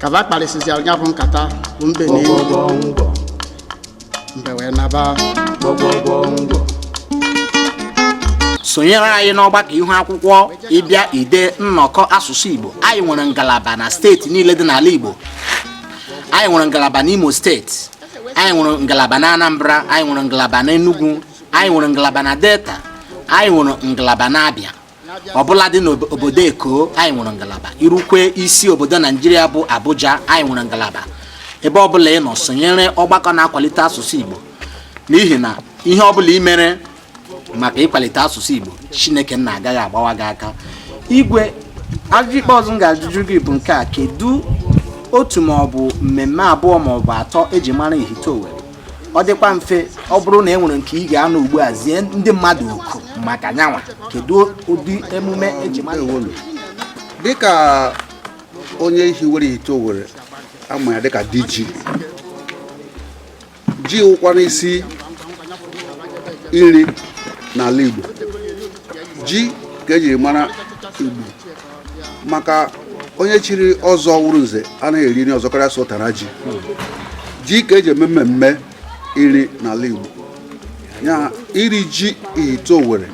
ka ba kparịsịzịara ya bụ nkata bụ mbe na enyi mbe wee naba sonyere anyị n'ọgbakọ ihu akwụkwọ ịbịa ide nnọkọ asụsụ igbo anyị nwere ngalaba na steeti niile dị n'ala igbo anyị nwere ngalaba n'imo steeti anyị nwere ngalaba na anambra anyị nwere ngalaba na enugu anyị nwere ngalaba na delta anyị nwere ngalaba na abịa ọbụladị n'obodo eko anyị nwere ngalaba i rukwe isi obodo naijiria bụ abuja anyị nwere ngalaba ebe ọbụla ị nọ sonyere ọgbakọ na-akwalite asụsụ igbo n'ihi na ihe ọbụla ị mere maka ịkwalite asụsụ igbo chineke nna agaghị agbawa gị aka igwe ajụjụ ikpeazụ m ga-ajụjụ gị bụ nke a kedu otu maọbụ mmemme abụọ maọbụ atọ eji mara ihite owere ọ dịkwa mfe ọ bụrụ na e nwere nke ị ga-anọ ugbu a zie ndị mmadụ oku maka nya nwa kedu ụdị emume eji mara owere dịka onye hiwere ihite owere a ma ya dịka di ji ji wụkwanụ isi nri n'ala Igbo ji ka ejiri mara Igbo maka onye chiri ọzọ wụrụ nze anaghị eri nri ọzọ karịa sọ ụtara ji ji ka eji eme mmemme iri n'ala Igbo ya iri ji ihite owere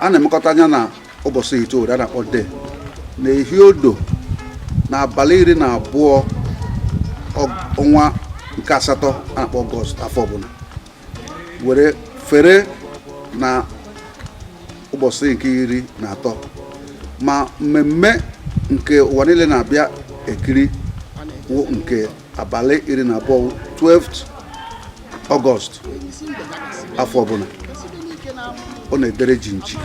a na-emekọta nya na ụbọchị ihite owere a na-akpọ day na ehi odo na abalị iri na abụọ ọnwa nke asatọ a na-akpọ ọgọst afọ ọbụla were fere na ụbọchị nke iri na atọ ma mmemme nke ụwa niile na-abịa ekiri wụ nke abalị iri na abụọ 12th August afọ ọbụla ọ na-edere ji nji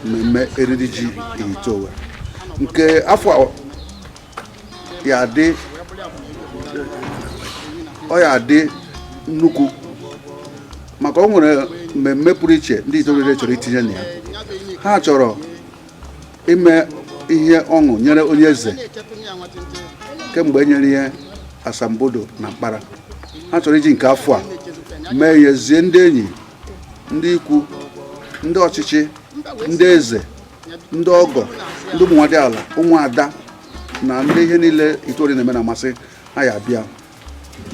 mmemme eriri ji ihite owere nke afọ ya-adị ọ ya-adị nnukwu maka o nwere mmemme pụrụ iche ndị ihite owere chọrọ itinye na ya ha chọrọ ime ihe ọṅụ nyere onye eze kemgbe e nyere ya asambodo na mkpara ha chọrọ iji nke afọ a mee ihe zie ndị enyi ndị ikwu ndị ọchịchị ndị eze ndị ọgọ ndị ụmụ nwadiala ụmụada na ndị ihe niile Ihite Owerri na-eme na-amasị ha ya bịa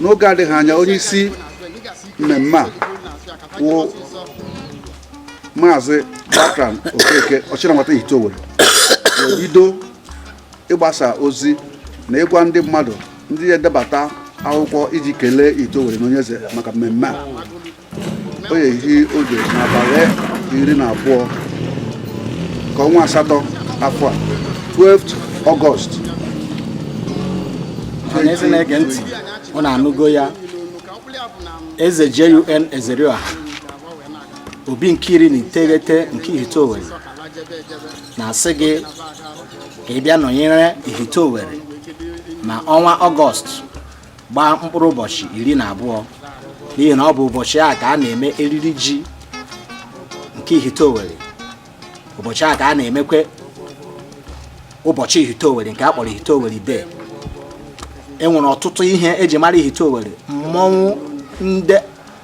n'oge adịghị anya onye isi mmemme a wụ maazị Bertrand Okeke Ọchịnanwata Ihite Owerri bido ịgbasa ozi na ịgwa ndị mmadụ ndị ya-edebata akwụkwọ iji kelee Ihite Owerri na onye eze maka mmemme a o ehi oge n'abalị iri na abụọ ka ọnwa asatọ afọ a 12th August ọhaneze na-ege ntị unu anụgo ya eze JUN Ezerioha obi nke iri na iteghete nke ihite Owerri na-asị gị ka ị bịa nọnyere ihite Owerri na ọnwa ọgọst gbaa mkpụrụ ụbọchị iri na abụọ n'ihi na ọ bụ ụbọchị a ka a na-eme eriri ji nke ihite owere ụbọchị a ka a na-emekwe ụbọchị ihite owere nke a kpọrọ ihite owere day e nwere ọtụtụ ihe eji mara ihite owere mmọnwụ ndị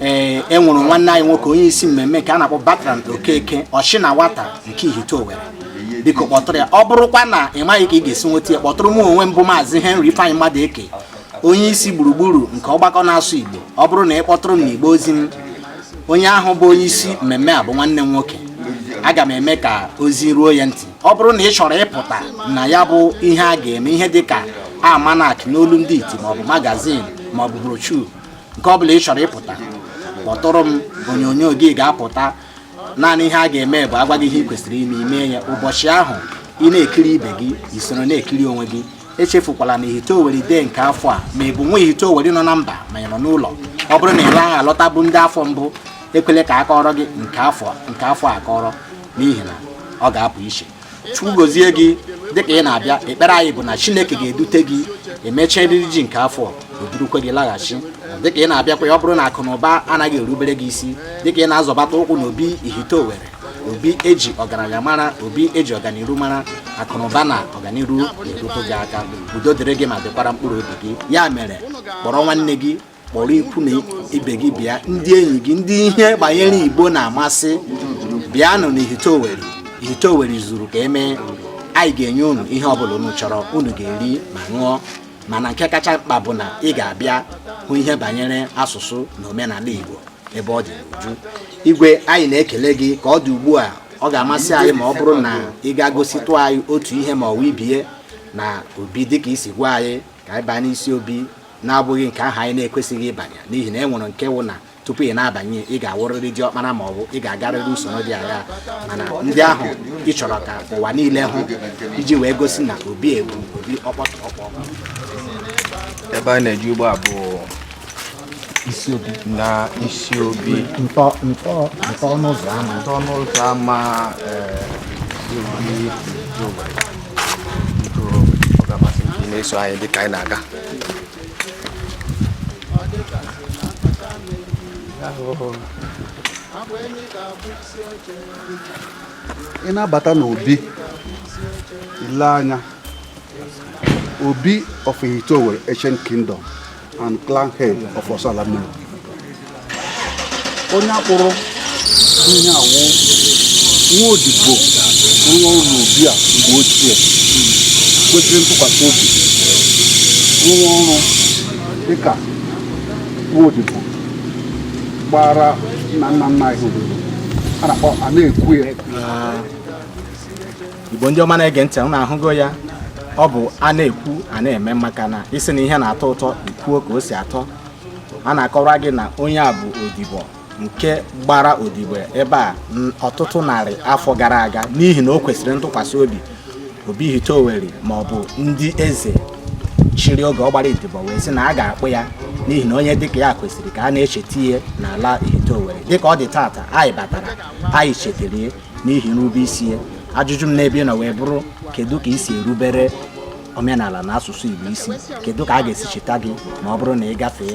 ee eh, e nwere nwanne anyị nwoke onye isi mmemme nke a na-akpọ Bertrand Okeke Ọchịnanwata nke Ihite Owere biko kpọtụrụ ya ọ bụrụkwa na ị maghị ka ị ga-esi nweta ya kpọtụrụ m onwe m bụ maazị Henry Ifeanyi Madueke onye isi gburugburu nke ọgbakọ na-asụ Igbo ọ bụrụ na ị kpọtụrụ m n'igbe ozi m onye ahụ bụ onye isi mmemme a bụ nwanne m nwoke aga m eme ka ozi ruo ya ntị ọ bụrụ na ị chọrọ ịpụta na ya bụ ihe a ga-eme ihe dị ka almanac n'olu ndị iti maọbụ magazine maọbụ brochure nke ọ bụla ị chọrọ ịpụta kpọtụrụ m onyonyo gị ga-apụta naanị ihe a ga-eme bụ a gwa gị ihe ị kwesịrị ime i mee ya ụbọchị ahụ ị na-ekiri ibe gị i soro na-ekiri onwe gị echefukwala na ihite owere day nke afọ a ma ị bụ nwa ihite owere nọ na mba ma ị nọ n'ụlọ ọ bụrụ na ị naghị alọtabu ndị afọ mbụ ekwele ka a kọọrọ gị nke afọ a akọrọ n'ihi na ọ ga-apụ iche chukwu gozie gị dịka ị na-abịa ekpere anyị bụ na chineke ga-edute gị e mechaa eriri ji nke afọ o durukwe gị laghachi dịka ị na-abịakwa ọ bụrụ na akụ na ụba anaghị erubere gị isi dịka ị na-azọbata ụkwụ na obi ihite owere obi eji ọgaranya mara obi eji ọganiru mara akụ na ụba na ọganiru na-erute gị aka udo dịrị gị ma dịkwara mkpụrụ obi gị ya mere kpọrọ nwanne gị kpọrọ ikwu na ibe gị bịa ndị enyi gị ndị ihe banyere igbo na-amasị bịanụ na ihite Owerri ihite Owerri zuru ka e mee anyị ga-enye unu ihe ọbụla unu chọrọ unu ga-eri ma ṅụọ mana nke kacha mkpa bụ na ị ga-abịa hụ ihe banyere asụsụ na omenala igbo ebe ọ dị n'uju igwe anyị na-ekele gị ka ọ dị ugbu a ọ ga-amasị anyị ma ọ bụrụ na ị ga-egositụ anyị otu ihe ma ọ wụ ibie na obi dịka i si gwa anyị ka anyị baa n'isi obi na-abụghị nke ahụ anyị na-ekwesịghị ịbanye n'ihi na e nwere nke wụ na tupu ị na-abanye ị ga-awụrịrị diọkpara ma ọ bụ ị ga-agarịrị usoro dị aghaa mana ndị ahụ ị chọrọ ka ụwa niile hụ iji wee gosi na obi a wụ obi ọkpọtọkpọ ebe a na-eje ugbu a bụ na isi obi ntọ ntọ ntọ ọnụ ụzọ ama ntọ ọnụ ụzọ ama eh, biko ọ ga-amasị m ka ị na-eso anyị dị ka anyị na-aga ị na-abata n'obi i lee anya obi of Ihite Owerri ancient kingdom and clan head of Orsu Alamiri onye a kpụrụ ihe a wụ nwa odibo nwa ọrụ obi a mgbe ochie kwesịrị ntụkwasị obi rụwa ọrụ dịka nwa odibo gbara nna nna nna anyị odibo a na-akpọ a na-ekwu ya Igbo ndị ọma na-ege ntị unu ahụgo ya ọ bụ a na-ekwu a na-eme maka na ị sị na ihe na-atọ ụtọ i kwuo ka o si atọ a na-akọwara gị na onye a bụ odibo nke gbara odibo ebe a ọtụtụ narị afọ gara aga n'ihi na o kwesịrị ntụkwasị obi obi Ihite Owerri ma ọ bụ ndị eze chịrị oge ọ gbara odibo wee sị na a ga-akpụ ya n'ihi na onye dịka ya kwesịrị ka a na-echeta ya n'ala Ihite Owerri dịka ọ dị tata anyị batara anyị chetere n'ihi nrube isi ya ajụjụ m n'ebe ị nọ wee bụrụ kedu ka i si erubere omenala na asụsụ Igbo isi kedu ka a ga-esi cheta gị ma ọ bụrụ na ị gafee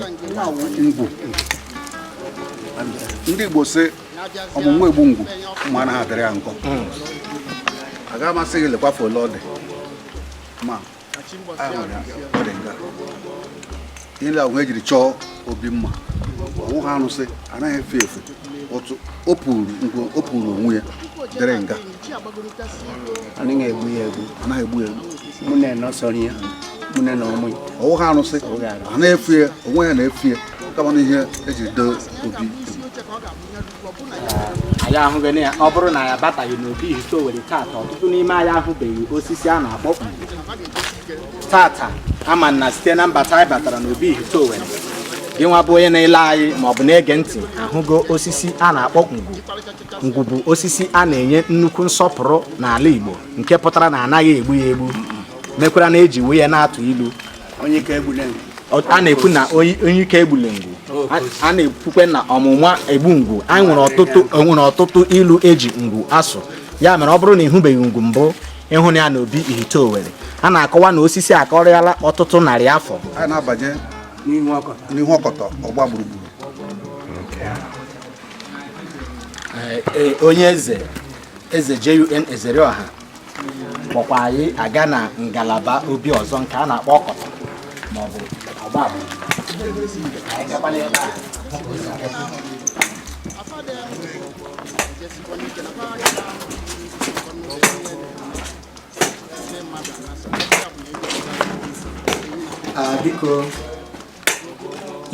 ndị Igbo sị ọmụ mma egbu ngwu mma anaghị adịrị ya nkọ hmm. aga m asị gị lekwafe ole ọ dị ma ihe ndị ahụ ejiri chọọ obi mma ọ wụha arụsị anaghị efe efe otu o puru onwe ya dịrị nga anaghị egbu ya egbu anaghị egbu ya egbu mụ na enọsọrọ ya mụ na na ọmụ ya ọ wụha arụsị anaghị efe ya onwe ya na-efe ya kama na ihe ejiri dee obi anyị ahụgo na ọ bụrụ na anyị abataghị n'obi Ihite Owerri tata ọtụtụ n'ime anyị ahụbeghị osisi a na-akpọ ngwu tata mana site na mbata anyị batara n'obi Ihite Owerri gị nwa bụ onye na-ele anyị ma ọ bụ na-ege ntị ahụgo osisi a na-akpọ ngwu ngwu bụ osisi a na-enye nnukwu nsọpụrụ n'ala Igbo nke pụtara na anaghị egbu ya egbu mekwara na eji wee ya na-atụ ilu onye ike egbule ngwu Ọ- a na-ekwu na onye onye ike egbule ngwu A- a na-ekwukwe na ọmụ mma egbu ngwu anyị nwere ọtụtụ enwere ọtụtụ ilu eji ngwu asụ ya mere ọ bụrụ na ị hụbeghị ngwu mbụ ị hụna ya na obi Ihite Owerri a na-akọwa na osisi a karịala ọtụtụ narị afọ anyị na-abanye n'ihu ọkọ n'ihu ọkọtọ ọgba gburugburu Ee, onye eze eze JUN Ezerioha kpọkwa anyị aga na ngalaba obi ọzọ nke a na-akpọ ọkọtọ maọbụ ọgba ah, biko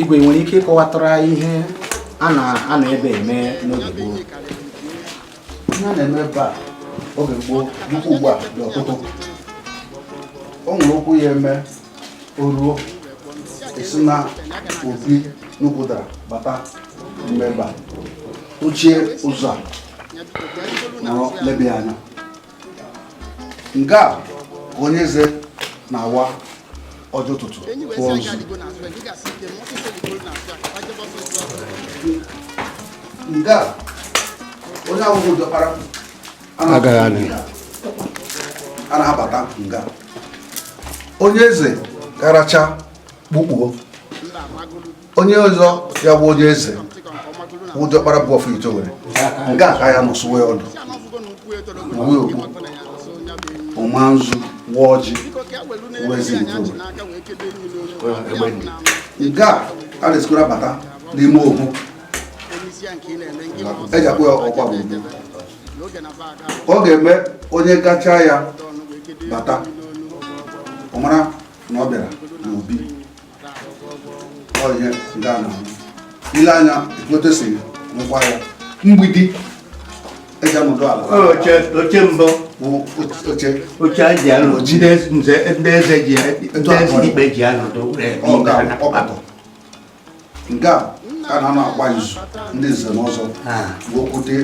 igwe i nwere ike ịkọwatara ihe a na-anọ ebe a eme n'oge gboo ihe a na-eme ebe a oge gboo dịkwa ugbu a dị ọtụtụ o nwere okwu ya eme o ruo e si na obi n'ukwu ụdara bata n'ime ebe a tụchie ụzọ a nọrọ lebe ya anya nga a onye eze na-awa ọjị ụtụtụ tụọ nzu nga a onye awụhụ diọkpara agaghị na-abata nga a onye eze karacha kpukpuo onye ọzọ ya bụ onye eze wụ diọkpara obi of Ihiteowere nga a ka ya nọsụwe ọdụ uwe okpu ọ maa nzu waa ọjị wezi Ihiteowere nga a a na-esikwara bata n'ime okpu eji akpụ ya ọkwa bụ ọ ga-eme onye gacha ya bata ọ mara na ọ bịara n'obi ọhịa ndị a na-ahụ i lee anya ekwetesịghị nwekwa ya mgbidi eji anọdụ ala oche mbụ oche oche a ji anọ ndị eze ji ndị eze ikpe ji anọdụ nga a ka a na-anọ agba izu ndị nze na ọzọ okwute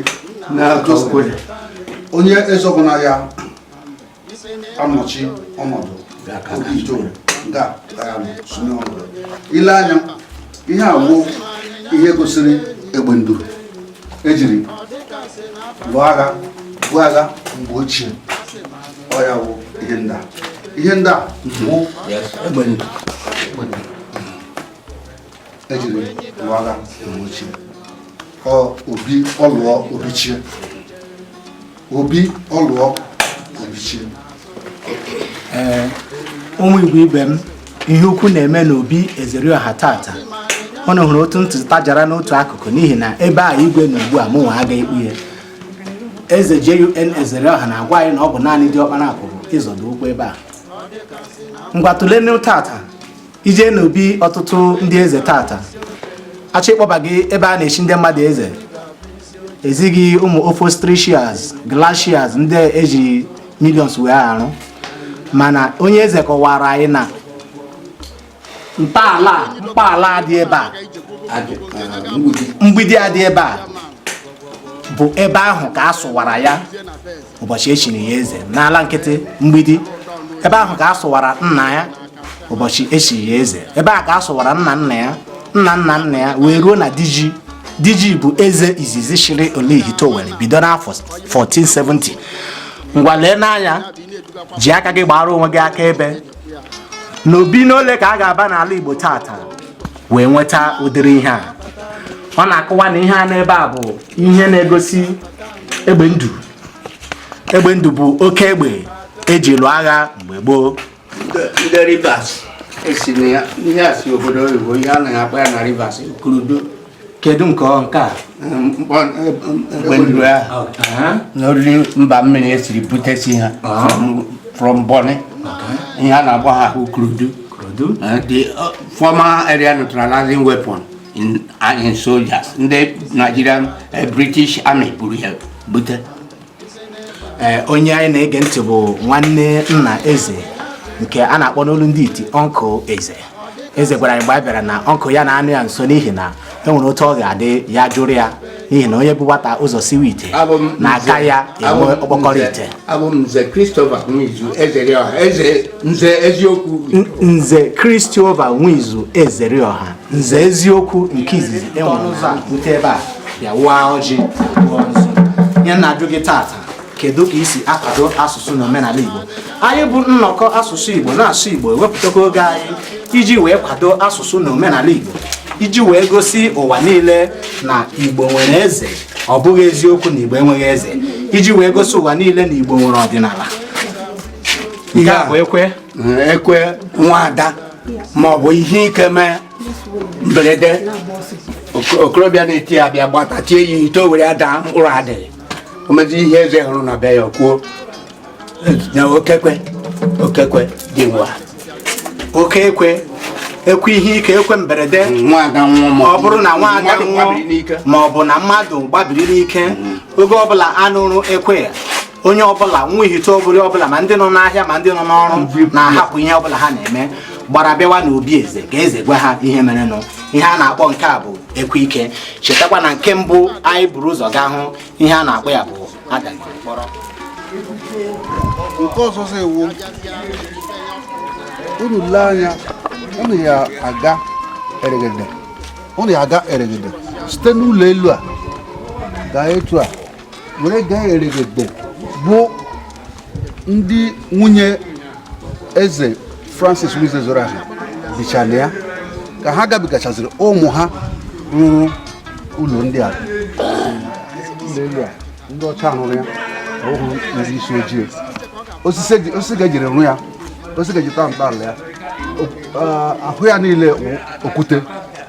onye eze ọbụla ya anọchi ọnọdụ obi Ihiteowere nga a sonye ọnọdụ i lee anya ihe a wụ ihe gosiri egbe nduru ejiri lụọ agha bụ agha mgbe ochie ọ ya wụ ihe ndị a ihe ndị a wụ egbe nduru ejiri lụọ agha mgbe ochie ọ obi ọlụọ obichie obi ọlụọ obichie ee ụmụ igbo ibe m ihe ukwu na-eme n'obi Ezerioha tata unu hụrụ otu ntụtụ tajara n'otu akụkụ n'ihi na ebe a igwe nọ ugbu a mụnwa agaghị ikpu ya eze JUN Ezerioha na-agwa anyị na ọ bụ naanị diọkpara pụrụ ịzọdo ụkwụ ebe a ngwa tụlenụ tata i jee n'obi ọtụtụ ndị eze tata a chọọ ịkpọba gị ebe a na-echi ndị mmadụ eze e zi gị ụmụ upholsteries glasses ndị e ji millions wee arụ mana onye eze kọwara anyị na ntọala dị ebe a mgbidi a dị ebe a bụ ebe ahụ ka a sụwara ya ụbọchị e chiri ya eze n'ala nkịtị mgbidi ebe ahụ ka a sụwara nna ya ụbọchị e chiri ya eze ebe a ka a sụwara nna nna ya nna nna nna ya wee ruo na diji diji bụ eze izizi chịrị ala Ihite Owerri bido n'afọ 1470 ngwa lee n'anya ji aka gị gbara onwe gị akaebe n'obi n'ole ka a ga-aba n'ala Igbo tata wee nweta ụdịrị ihe a ọ na-akọwa na ihe a n'ebe a bụ ihe na-egosi egbe ndụ egbe ndụ bụ oke egbe e ji lụọ agha mgbe gboo ndị rivers esi na ya ihe a si obodo oyibo ihe a na-akpọ ya na rivers kurudu kedu nke ọ nke a mkpọ egbe ndụ ahụ na oriri mba mmiri e siri butesi ha from- from Bonny ihe a na-akpọ ha bụ kurudu the uh, former area neutralizing weapon in, uh, in soldiers ndị Nigerian uh, British Army buru ya bute eh, onye anyị na-ege ntị bụ nwanne nna eze nke a na-akpọ n'olu ndị iti uncle eze eze gwara anyị mgbe a bịara na uncle ya na-anọ ya nso n'ihi na e nwere otu ọ ga-adị ya jụrụ ya n'ihi na onye bu nwata ụzọ siwe ite na-aka ya enwe ọkpọkọrọ ite abụ m nze Christopher Nwizu Ezerioha nze eziokwu nze Christopher Nwizu Ezerioha nze eziokwu nke izizi e nwere ụzọ a bute ebe a bịa waa ọjị gụọ nzu. ihe m na-ajụ gị tata kedu ka i si akwado asụsụ na omenala Igbo anyị bụ nnọkọ asụsụ Igbo na-asụ Igbo ewepụtakwa oge anyị iji wee kwado asụsụ na omenala Igbo iji wee gosi ụwa niile na Igbo nwere eze ọ bụghị eziokwu na Igbo enweghị eze iji wee gosi ụwa niile na Igbo nwere ọdịnala nke a bụ ekwe ekwe nwaada ma ọ bụ ihe ike mee mberede okorobịa na-eti ya bịa gbata tie ya ite o were ya daa mkpụrụ adịghị o mezi ihe eze hụrụ na be ya kwuo na oke ekwe oke ekwe dị nwa oke ekwe ekwe ihe ike ekwe mberede ọ bụrụ na nwaada nwụọ ma ọ bụ na mmadụ gbabiri n'ike mm. oge ọbụla a nụrụ ekwe ya onye ọbụla nwa Ihite Owerri ọbụla ma ndị nọ n'ahịa ma ndị nọ n'ọrụ na-ahapụ ihe ọbụla ha na-eme gbara bịawa n'obi eze ka eze gwa ha ihe merenụ ihe a na-akpọ nke a bụ ekwe ike chetakwa na nke mbụ anyị buru ụzọ gaa hụ ihe a na-akpọ ya bụ adagoro mkpọrọ nke ọzọ ewu unu lee anya unu ya aga eregede site n'ụlọ elu a gaa etu a were gaa eregede bụ ndị nwunye eze francis nwizu ezerioha bicha na ya ka ha gabigachaziri ụmụ ha rụrụ ụlọ ndị a n'elu a ndị ọcha rụrụ ya ọ wụrọ ndị isi ojii osisi ka e jiri rụ ya osisi ka e ji tọọ ntọala ya ahụ ya niile okwute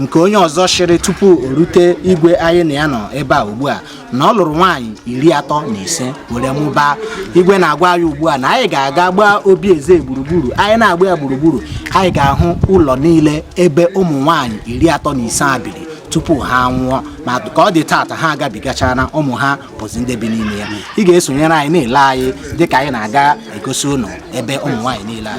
nke onye ọzọ chịrị tupu o rute igwe anyị na ya nọ ebe a ugbu a na ọ lụrụ nwaanyị iri atọ na ise were mụbaa igwe na-agwa anyị ugbu a na anyị ga-aga gbaa obi eze gburugburu anyị na-agba ya gburugburu anyị ga-ahụ ụlọ niile ebe ụmụ nwaanyị iri atọ na ise a biri tupu ha nwụọ ma ka ọ dị taata ha agabigachara na ụmụ ha bụzi ndị bi n'ime ya ị ga-esonyere anyị na-ele anyị dịka anyị na-aga egosi ụnụ ebe ụmụ nwaanyị niile a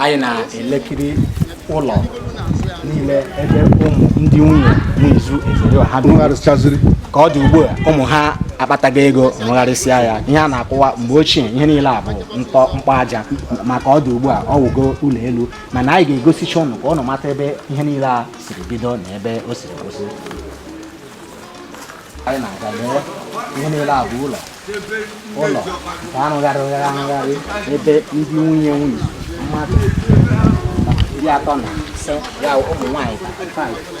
anyị na-elekiri ụlọ niile ebe ụmụ ndị nwunye Nwizu Ezerioha bi. Nwegharịsịchaziri. ka ọ dị ugbu a ụmụ ha akpatago ego nwegharịsịa ya ihe a na-akọwa mgbe ochie ihe niile a bụ ntọ mkpọ aja ma ka ọ dị ugbu a ọ wụgo ụlọ elu mana anyị ga-egosicha ụnụ ka ụnụ mata ebe ihe niile a siri bido na ebe o siri kwụsị anyị na-aga lee ihe niile a bụ ụlọ ụlọ nke a rụgharịrị arụgharị ebe ndị nwunye nwunye mmadụ iri atọ na ise ya ụmụ nwaanyị iri atọ na ise.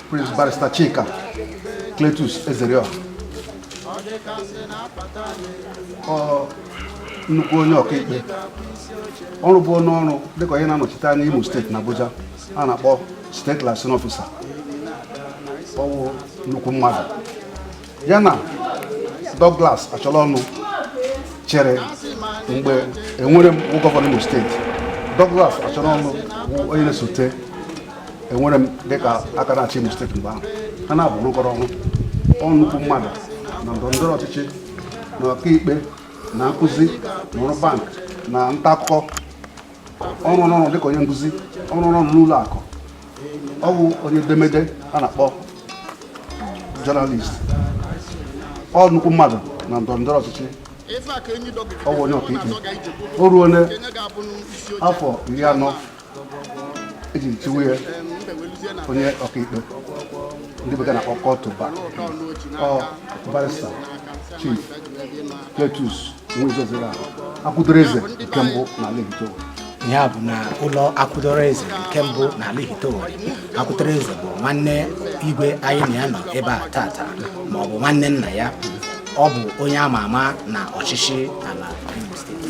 Prince Barrister Chika Cletus Ezerioha nnukwu onye ọkaikpe ọ rụburu ọrụ dịka onye na-anọchite anya Imo steeti na Abuja a na-akpọ State liaison officer ọ wụ nnukwu mmadụ ya na Douglas Acholonu chịrị mgbe Enwerem wụ gọvanọ Imo steeti Douglas Acholonu onye na-esote Enwerem dịka aka na-achị Imo steeti mgbe ahụ ha naabọ rụkọrọ ọrụ ọ nnukwu mmadụ na ndọrọ ndọrọ ọchịchị na ọkaikpe na nkụzi na ọrụ bank na nta akụkọ ọ rụrụ ọrụ dịka onye nkụzi ọ rụrụ ọrụ n'ụlọ akụ ọ bụ onye edemede a na-akpọ journalist ọ nnukwu mmadụ na ndọrọ ndọrọ ọchịchị ọ bụ onye ọkaikpe o ruola afọ iri anọ e ji chiwe ya onye ọkaikpe ndị bekee na-akpọ call to bar barrister chief Cletus ya bụ na ụlọ akwụdoro eze nke mbụ n'ala Ihite Owere akwụdoro eze bụ nwanne igwe anyị na ya nọ ebe a tata ma ọ bụ nwanne nna ya ọ bụ onye ama ama na ọchịchị ala Imo steeti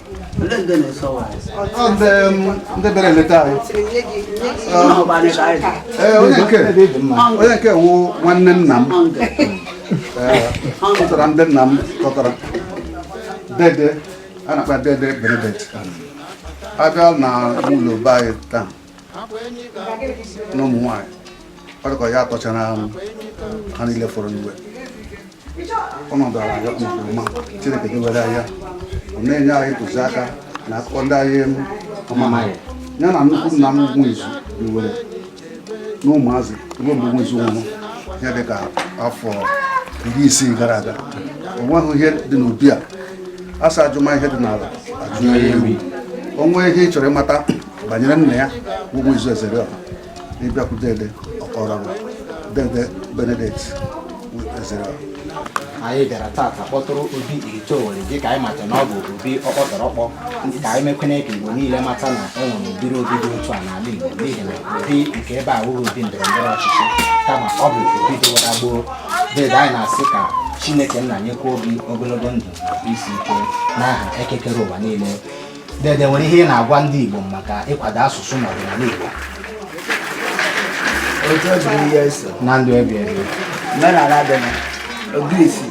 ndị bịara eleta anyị ee onye nke onye nke wụ nwanne nna m tọtara ndị nna m tọtara dede a na-akpọ dede benedict abịa na ụlọ be anyị taa na ụmụ nwaanyị ọ dịka ya tọchara ha niile fọrọ n'igwe ọnọdụ ala ya nke ọma chineke dewere ya ọ na-enye anyị ntụziaka na akụkọ ndị anyị amaghị ya na nnukwu nna m Nwizu biwere na ụmụazị ruo mgbe Nwizu nwụrụ ihe dịka afọ iri isii gara aga o nweghị ihe dị n'obi a a sị ajụma ihe dị n'ala ajụma ihe ewu o nwee ihe ị chọrọ ịmata banyere nna ya bụ Nwizu Ezeriọha ị bịakwute dede ọkọrọ dede benedict Ezeriọha anyị bịara tata kpọtụrụ obi Ihite Owere dị ka anyị mata na ọ bụ obi ọkpọtọrọkpọ ka anyị mekwene ka igbo niile mata na e nwere ụdịrị obi dị otu a n'ala igbo n'ihi na obi nke ebe a wụghị obi ndọrọ ndọrọ ọchịchị kama ọ bụ obi dịwara gboo dede anyị na-asị ka chineke nna nyekwa obi ogologo ndụ isi ike n'aha eke kere ụwa niile dede nwere ihe ị na-agwa ndị Igbo maka ịkwado asụsụ na ọdịnala Igbo otu ọ dịrị ihe eso na ndụ ebi ebi omenala dị na ogirisi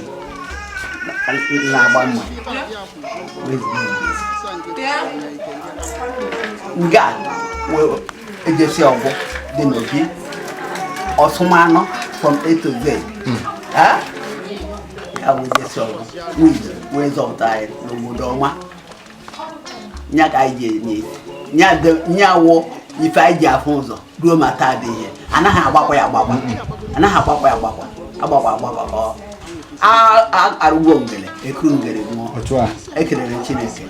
na-agba mma nga e ji esi ọgwụ dị n'obi ọsụmanụ from A to Z ya wụ e ji esi ọgwụ wee zọpụta anyị n'obodo ọma nya ka anyị ji enye nya wụ ife anyị ji afụ ụzọ ruo ma taa dị ihe anaghị agbakwa ya agbakwa anaghị agbakwa ya agbakwa arụgwo ngere ekuru ngere ṅụọ ekelere chineke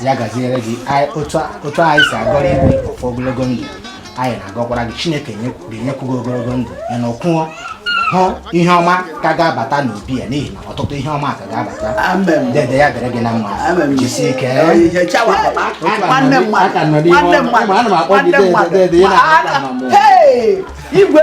ya gaziere gị otu anyị si agọrọ igwe ọfọ ogologo ndụ anyị na-agọkwara gị chineke ga-enyekwu gị ogologo ndụ ya nọkwuo hụ ihe ọma ka ga-abata n'obi a n'ihi na ọtụtụ ihe ọma ka ga-abata dede ya dịrị gị na mma jisie ike igwe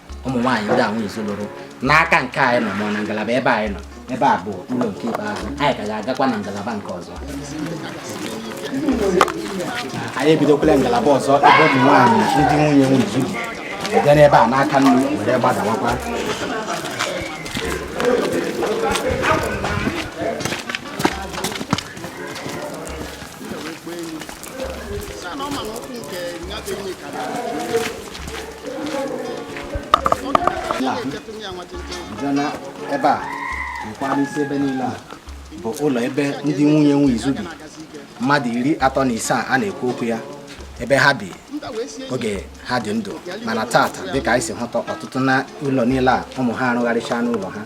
ụmụ nwaanyị ndị Nwizu lụrụ n'aka nke anyị nọ ma na ngalaba ebe anyị nọ ebe a bụ ụlọ nke ikpeazụ anyị ka ga-agakwa na ngalaba nke ọzọ anyị ebidokwala ngalaba ọzọ ebe ụmụ nwaanyị ndị nwunye Nwizu bi bịa n'ebe a n'aka nri were gbadawakwa jana ebe a nkwara isi ebe niile a bụ ụlọ ebe ndị nwunye Nwizu bi mmadụ iri atọ na asaa a na-ekwu okwu ya ebe ha bi oge ha dị ndụ mana tata dịka anyị si hụta ọtụtụ na ụlọ niile a ụmụ ha arụgharịcha n'ụlọ ha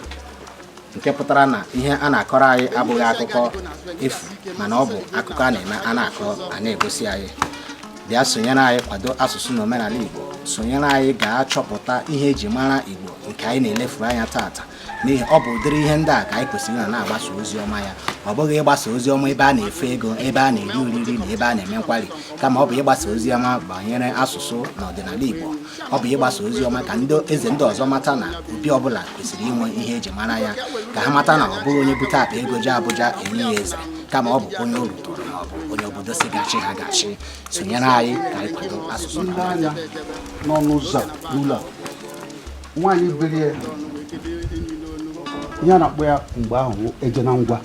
nke pụtara na ihe a na-akọrọ anyị abụghị akụkọ efu mana ọ bụ akụkọ a na-eme a na-akọ a na-egosi anyị bịa sonyere anyị kwado asụsụ na omenala Igbo sonyere anyị gaa chọpụta ihe eji mara Igbo nke anyị na-elefuru anya taata n'ihi ọ bụ ụdịrị ihe ndị a ka anyị kwesịrị na na-agbasa ozi ọma ya ọ bụghị ịgbasa ozi ọma ebe a na-efe ego ebe a na-eri oriri na ebe a na-eme nkwari kama ọ bụ ịgbasa ozi ọma banyere asụsụ na ọdịnala Igbo ọ bụ ịgbasa ozi ọma ka ndị eze ndị ọzọ mata na obi ọbụla kwesịrị inwe ihe eji mara ya ka ha mata na ọ bụghị onye bute akpa ego jee Abuja enye ya eze kama ọ bụ onye o ruturu ma ọ bụ onye obodo sị ga-achị ha ga-achị sonyere anyị ka anyị kwado asụsụ anyị n'ọnụ ụzọ n'ụlọ nwaanyị biri ya ihe a na-akpọ ya mgbe ahụ eje na ngwa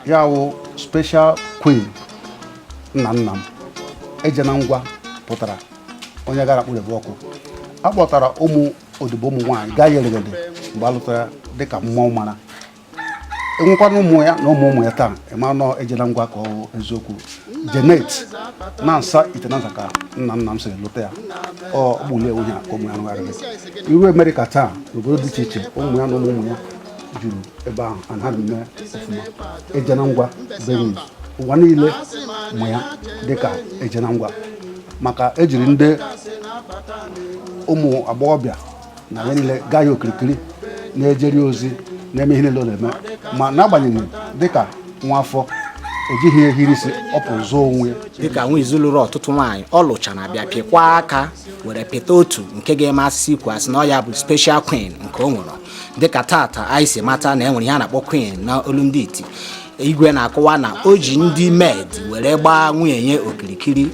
ya wụ special queen nna nna m eje na ngwa pụtara onye gara kpụrebe ọkụ a kpọtara ụmụ odibo ụmụ nwaanyị gaa yeregede mgbe a lụtara ya dịka mma ọ mara enwekwana ụmụ ya na ụmụ ụmụ ya taa ịma na ọ eje na ngwa ka ọ wụ eziokwu jee n'Ihitenansa Ihitenansa ka nna nna m siri lụta ya ọ bụ ụlọ onye a ka ụmụ ya rụgharịrị i ruo Amerịka taa n'obodo dị iche iche ụmụ ya na ụmụ ụmụ ya juru ebe ahụ ana ha na-eme ọfụma ejena ngwa bụ onye ụwa niile ma ya dịka ejena ngwa maka ejiri ndị ụmụ agbọghọbịa na ya niile gbaa ya okirikiri na-ejeri ozi na-eme ihe niile ọ na-eme ma n'agbanyeghị dịka nwa afọ ejighị ihe hiri isi ọ pụrụ zụọ onwe ya dịka Nwizu lụrụ ọtụtụ nwaanyị ọ lụcha na bịa pịkwa aka were pịta otu nke ga-amasị ikwu asị na ọ ya bụ special queen nke o nwere dịka tata anyị si mata na e nwere ihe a na-akpọ queen na olu ndị iti igwe na-akọwa na o ji ndị maid were gbaa nwunye ya okirikiri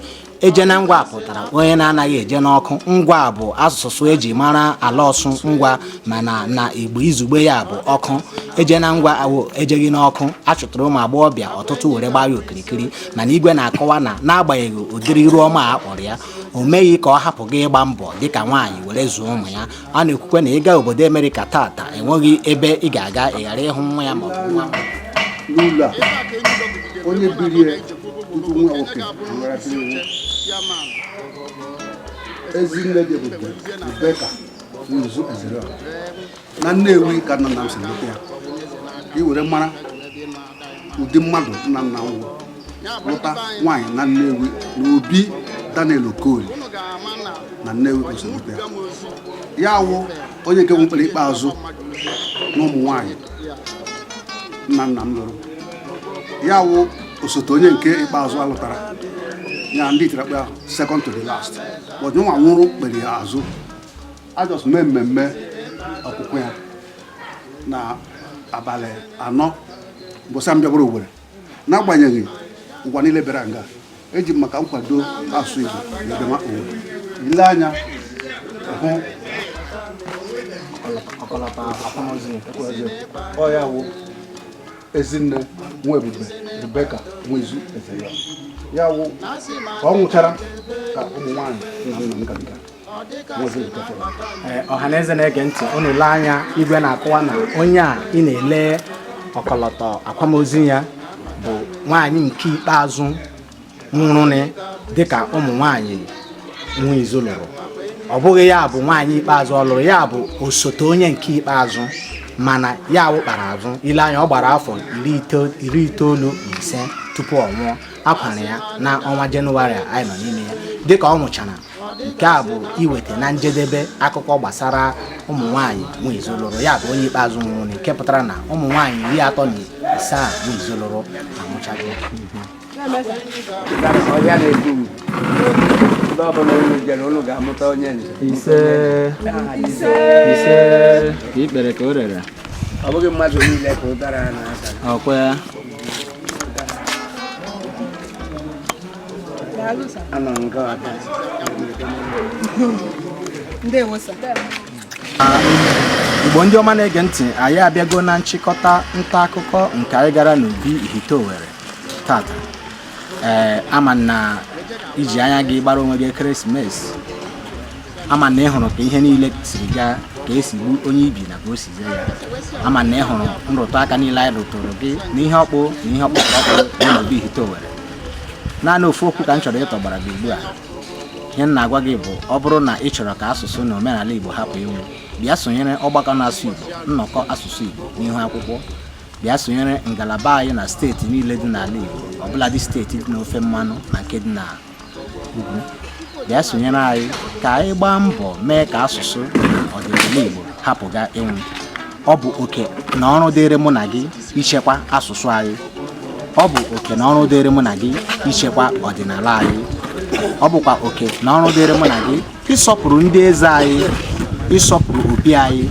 eje na ngwa pụtara onye na-anaghị eje n'ọkụ ngwa bụ asụsụ eji mara ala Ọsụ ngwa mana na igbo izugbe ya bụ ọkụ eje na ngwa awụ ejeghị n'ọkụ achụtara ụmụ agbọghọbịa ọtụtụ were gbaa ya okirikiri mana igwe na-akọwa na n'agbanyeghị ụdịrị iru ọma a kpọrọ ya o meghị ka ọ hapụ gị ịgba mbọ dịka nwaanyị were zụọ ụmụ ya a na-ekwukwa na ịga obodo Amerịka tata enweghị ebe ị ga-aga ị ghara ịhụ nwa ya ma ọ bụ nwa n'ụlọ a onye biri ya tutu nwa nwoke nwerasịrị iwu ezi nne dị ebube Rebeka Nwizu ezere na Nnewi ka nna nna m si lụta ya ka i were mara ụdị mmadụ nna nna m wụ lụta nwaanyị na Nnewi na Obi Daniel Okoli na Nnewi Osolukwe ya awụ onye nke nwụkpere ikpeazụ na ụmụ nwaanyị nna nna m lụrụ ya awụ osote onye nke ikpeazụ a lụtara ya ndị itirakpa second to the last but nwa nwụrụ kpere ya azụ a just mee mmemme ọkwụkwa ya na abalị anọ mbọsị m bịagbara Owerri n'agbanyeghị ụwa niile bịara nga eji m maka nkwado asụ Igbo na bịama Owerri i lee anya hụ ọkọlọtọ akwamozu ọ ya wụ ezinne nwe ebube Rebeka Nwizu eze ya ya wụ ka ọ nwụchara ka ụmụ nwaanyị nna nna m gabiga Eh, ọha na eze na-ege ntị unu lee anya igwe na-akọwa na onye a ị na-ele ọkọlọtọ akwamozu ya bụ nwaanyị nke ikpeazụ nwụrụnị dịka ụmụ nwaanyị Nwizu lụrụ ọ bụghị ya bụ nwaanyị ikpeazụ ọ lụrụ ya bụ osote onye nke ikpeazụ mana ya nwụkpara azụ i lee anya ọ gbara afọ iri itoolu na ise tupu ọ nwụọ a kwara ya na ọnwa jenụwarị anyị nọ n'ime ya dịka ọ nwụchara nke a bụ iweta na njedebe akụkọ gbasara ụmụ nwanyị Nwizu lụrụ ya bụ onye ikpeazụ nwụrụ nke pụtara na ụmụ nwanyị iri atọ na ise a Nwizu lụrụ anwụchago ise ise ka i kpere ka o rere ọ bụghị mmadụ niile ka ọ dara n'aka ọ kwa ya igbo ndị ọma na-ege ntị anyị abịago na nchịkọta nta akụkọ nke anyị gara n'obi ihite owere tata ee ama m na i ji anya gị gbara onwe gị ekeresimesi ama m na ị hụrụ ka ihe niile siri gaa ka e si gbu onye ibi na ka o si zee ya ama m na ị hụrụ nrụtụ aka niile anyị rụtụrụ gị na ihe ọkpụ na ihe ọkpụ ọkpụ dị n'obi ihite owere naanị ofu okwu ka m chọrọ ịtọgbara gị ugbu a ihe m na-agwa gị bụ ọ bụrụ na ị chọrọ ka asụsụ na omenala igbo hapụ ịnwụ bịa sonyere ọgbakọ na-asụ igbo nnọkọ asụsụ igbo n'ihu akwụkwọ bịa sonyere ngalaba anyị na steeti niile dị n'ala igbo ọbụladị steeti dị n'ofe mmanụ na nke dị na bịa sonyere anyị ka anyị gbaa mbọ mee ka asụsụ ọdịnala Igbo hapụga ịnwụ ọ bụ oke na ọrụ dịrị mụ na gị ichekwa asụsụ anyị ọ bụ oke na ọrụ dịrị mụ na gị ichekwa ọdịnala anyị ọ bụkwa oke na ọrụ dịrị mụ na gị ịsọpụrụ ndị eze anyị ịsọpụrụ obi anyị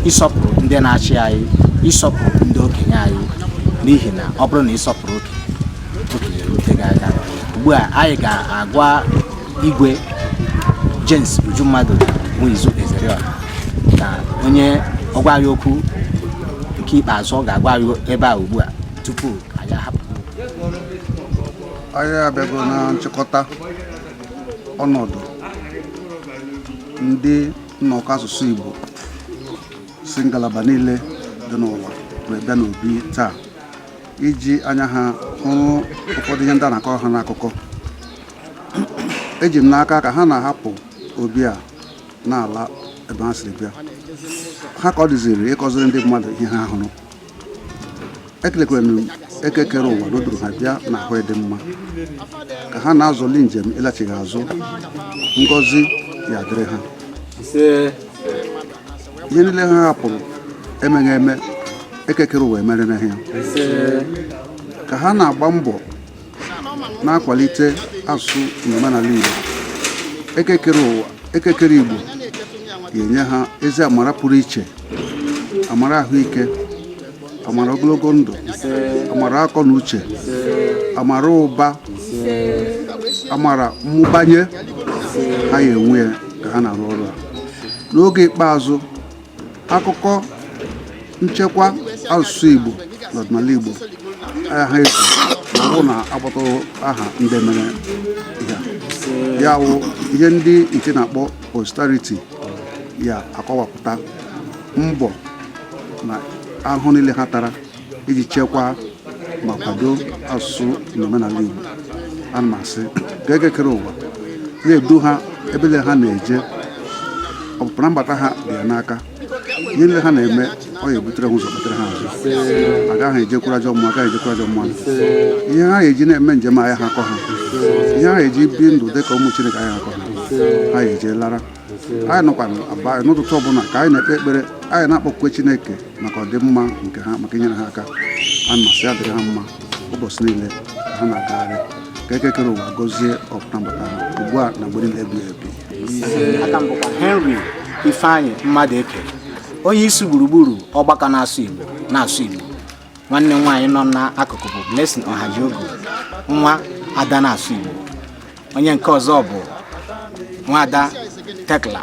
ịsọpụrụ ndị na-achị anyị ịsọpụrụ ndị okenye anyị n'ihi na ọ bụrụ na ị sọpụrụ okenye okenye erute gị aka ugbu a anyị ga-agwa igwe James Ujummadụ Nwizu Ezeriọha ka o nye ọ gwa anyị okwu nke ikpeazụ ọ ga-agwa anyị ebe a ugbu a tupu anyị ahapụ anyị abịago na nchịkọta ọnọdụ ndị nnọkọ asụsụ Igbo si ngalaba niile dị n'ụwa wee bịa n'obi taa iji anya ha hụrụ ụfọdụ ihe ndị a na-akọrọ ha n'akụkọ eji m n'aka ka ha na-ahapụ obi a na-ala ebe ha siri bịa ha ka ọ dịziri ịkọziri ndị mmadụ ihe ha hụrụ ekelekwara m eke kere ụwa dodoro ha bịa na ahụ dị mma ka ha na-azọli njem ịlachigha azụ ngọzi ya dịrị ha ihe niile ha hapụrụ emeghị eme eke kere ụwa emere na ha ka ha na-agba mbọ na-akwalite asụsụ n'omenala Igbo Eke kere ụwa Eke kere Igbo ya-enye ha ezi amara pụrụ iche amara ahụike amara ogologo ndụ amara akọ na uche amara ụba amara mmụbanye ha ya enwe ya ka ha na-arụ ọrụ a n'oge ikpeazụ akụkọ nchekwa asụsụ Igbo na ọdịnala Igbo ayaha ezu ma ọ bụ na akpọtaghị aha ndị mere ya ya wụ ihe ndị nke na-akpọ posterity ya-akọwapụta mbọ na ahụhụ niile ha tara iji chekwaa ma kwado asụsụ na omenala Igbo ana m asị ka Eke kere ụwa na-edu ha ebe niile ha na-eje ọpụpụ na mbata ha dị ya n'aka ihe niile ha na-eme ọ ya-ebutere ha ụzọ kpetere ha azụ agaghị ejekwuru ajọ mmụọ agaghị ejekwuru ajọ mmadụ ihe ha ya-eji na-eme njem ayaha akọ ha ihe ha ya-eji ebi ndụ dị ka ụmụ Chineke ayaha akọ ha ha ya-eje lara anyị nọkwa abanị n'ụtụtụ ọbụla ka anyị na-ekpe ekpere anyị na-akpọkukwa Chineke maka ọdịmma nke ha maka inyere ha aka ana m asị ya dịrị ha mma ụbọchị niile ha na-agagharị ka Eke kere ụwa gọzie ọpụpụ na mbata ha ugbu a na mgbe niile ebighị ebi aka m bụkwa Henry Ifeanyị Mmadụeke onye isi gburugburu ọgbakọ na-asụ Igbo nwanne m nwaanyị nọ n'akụkụ bụ Blessing Ọhajiogu nwada na-asụ Igbo onye nke ọzọ bụ nwada Tekla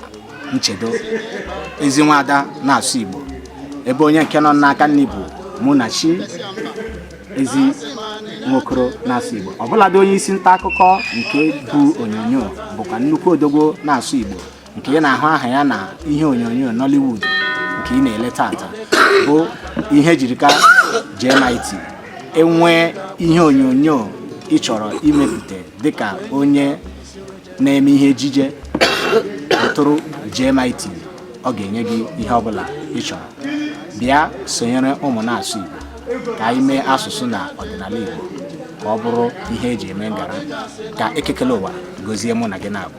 Nchedo ezi nwada na-asụ Igbo ebe onye nke nọ n'aka nri bụ Munachi ezi nwokoro na-asụ Igbo ọbụladị onye isi nta akụkọ nke bu onyonyo bụkwa nnukwu odogwo na-asụ Igbo nke ị na-ahụ aha ya na ihe onyonyo Nollywood nke ị na-ele tata bụ Ihejirika JMIT ị nwee ihe onyonyo ị chọrọ imepụta dịka onye na-eme ihe ejije kpọtụrụ JMIT ọ ga-enye gị ihe ọbụla ị chọrọ bịa sonyere ụmụ na-asụ Igbo ka anyị mee asụsụ na ọdịnala Igbo ka ọ bụrụ ihe e ji eme ngara ka Eke kele ụwa gọzie mụ na gị na-abụ